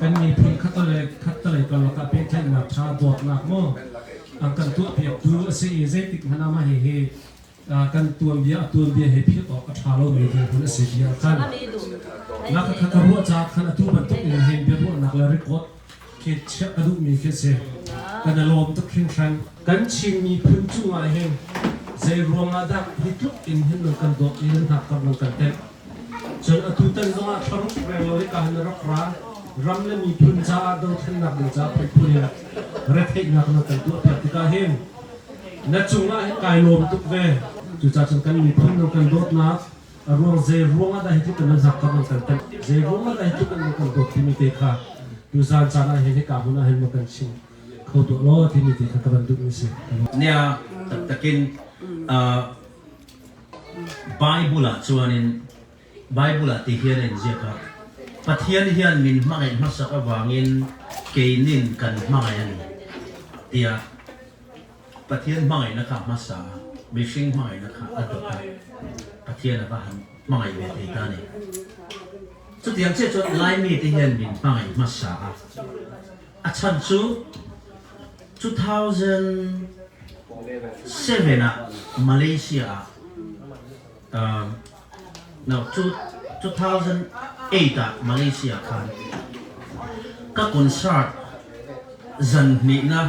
Kan miphun khattalei karlak ah pehtlaihnak ṭha tuaknak maw an kan tuahpiaktu a si i zeitik hmanh ah mah hihi kan tuanbia a tuanbia he philh awk a ṭha lomi dirhmun a si bia a khan. Na ka kha ka ruah caah khan atu bantuk in hin biaruahnak le record khi chiah ka duhmi khi si. Kan i lawm tuk hringhran. Kan Chin miphun cungah hin zei ruangah dah hi tluk in hin nan kan dawt i nan hnak karh nan kan tenh? Cun atutan zongah thlarup reng lo hika na rak ra, ram le miphun caah dothlennak ding caah phuiphu he retheihnak na kan tuahpiak tikah hin na cungah hin kai lawm tuk ve. Cucaah cun kan miphun nan kan dawtnak a ruang zei ruang ah dah hi tluk in nan hnakam an kan tanh, zei ruang ah dah hi tluk in nan kan dawt timi te kha tu zan caan ah hin hika hmun ah hin maw kan chim kho tuah law timi te kha ka van duhmi a si. Nia taktakin Baibal ah tihin a in ziak ah, Pathian hian min hmangaih hmasak avangin keinin kan hmangaih a ni, tiah Pathian hmangaihnak kha a hmasa a, mihring hmangaihnak kha a dawt a, Pathian a va han hmangaih ve te ta ni. Cutiang chiah cun Laimi tihin min hmangaih hmasa a, A chan cu 2007 ah Malaysia ah no 2008 ah Malaysia khan ka concert zan hnihnak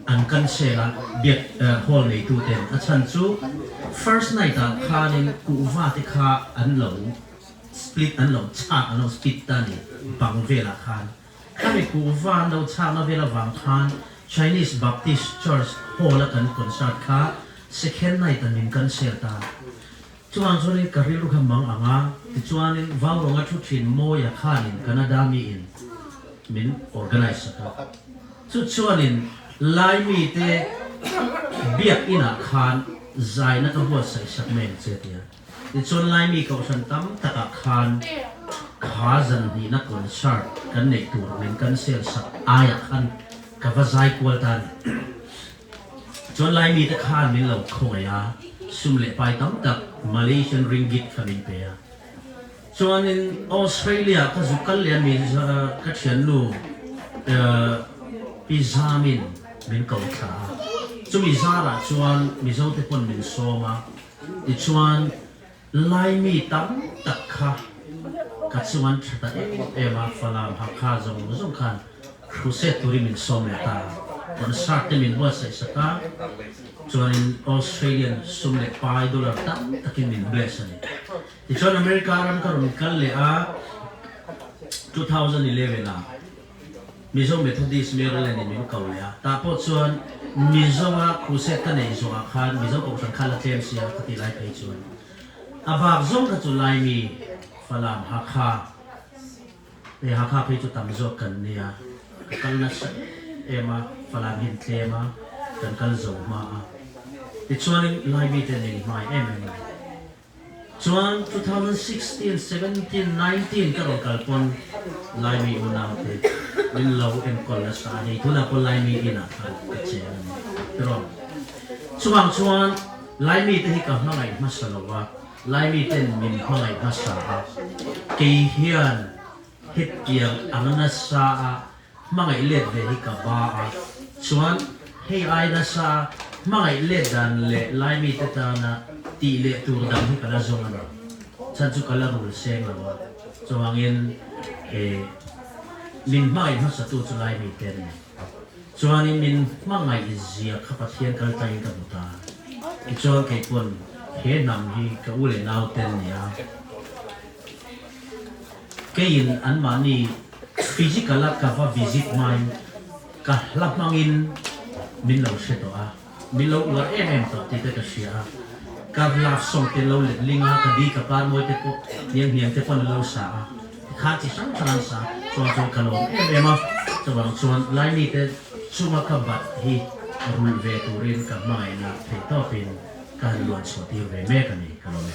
an kan share ah biak hall neitu ten a chan cu first night ah khan in kuhva te kha an lo split an lo chah an lo split tan i bang vel ah khan Kan i kuh van dochahnak vel avang khan Chinese Baptist Church Hall a kan concert kha second night ah min kan share ta. Cuangcun in ka rilru kha mangang a, tichuan in vaurawng a ṭhut hrin Mawia khan in Canadami in min organize a ka. Cucun in Laimi te biakinn ah khan zai na ka huat saihsak men ce tiah Nicun Laimi kohhran tam takah khan kha zanhnihnak concert kan nei tur ning kan selsak aiah khan ka va zai kual tan. Cun Laimi te khan min lo kho ngei a sum le pai tam tak Malaysian ringgit kha min pe a. Cun in Australia ka zu kal le mi ka thiannu pi zamin min ko thla a. Cumi zarah chuan Mizo te pon min som a. Cun Laimi tamtak kha ka cung an ṭhat em a, Falam, Hakha zong khan crusade turin min sawm ve ta. Concert te min buatsaihsak a, cun in Australian sum le pai dollar tamtak in min bless an i. Ticun America ram ka run kal le ah 2011 ah Mizo Methodist Maryland i min ko le ah tah pawh cun mi zongah crusade ka neih zongah khan Mizo Kohhran kha la tlem si a ka ti lai phei cun a bak zong ka cu Laimi Falam Hakha te Hakha phei cu tam zawk kan ni a ka kal na si em a Falam hin tlem a kan kal zo ma a tichuan in Laimi te ning hmai em em Cun 2016-17-19 ka rak kal tawn Laimi unau te Linlo Enkawl le Sa he tuna pawl Laimi inn ah khan ka cem an ti rawn. Chubang chuan Laimi te hi ka hmangaih hmasa lo ah Laimi ten min hmangaih hmasa ah kei hian Hrittiang a nasa ah hmangaih let ve hi ka ba a chuan hei ai nasa hmangaih let dan le Laimi te tan ah tih le tur dang hi ka la zung ani chan cu ka la rul seng lo a cuangin he min hmangaih hmasa tu cu Laimi te an ni chuan in min hmangaih zia kha Pathian kal tlai in ka hmu ta tichuan kei pun he hnam hi ka u le nau ten nia Keiin anmah nih physical ah ka va visit nain ka hla hmang in min lo hre tuah ah min lo uar emem tuah ti te ka hria. Kar laksawng te lo letling ah ka di ka par mawi te pawh hnianghniang te pawh an lo sa a. Tikhan chi hrang hrang an sa. Cun cu ka lawm em em a. Cubang cun Laimi te chunga ka bat hi rul ve turin ka hmangaihnak theihtawp in kan luanchuahtir ve mek a ni. Ka lawm e.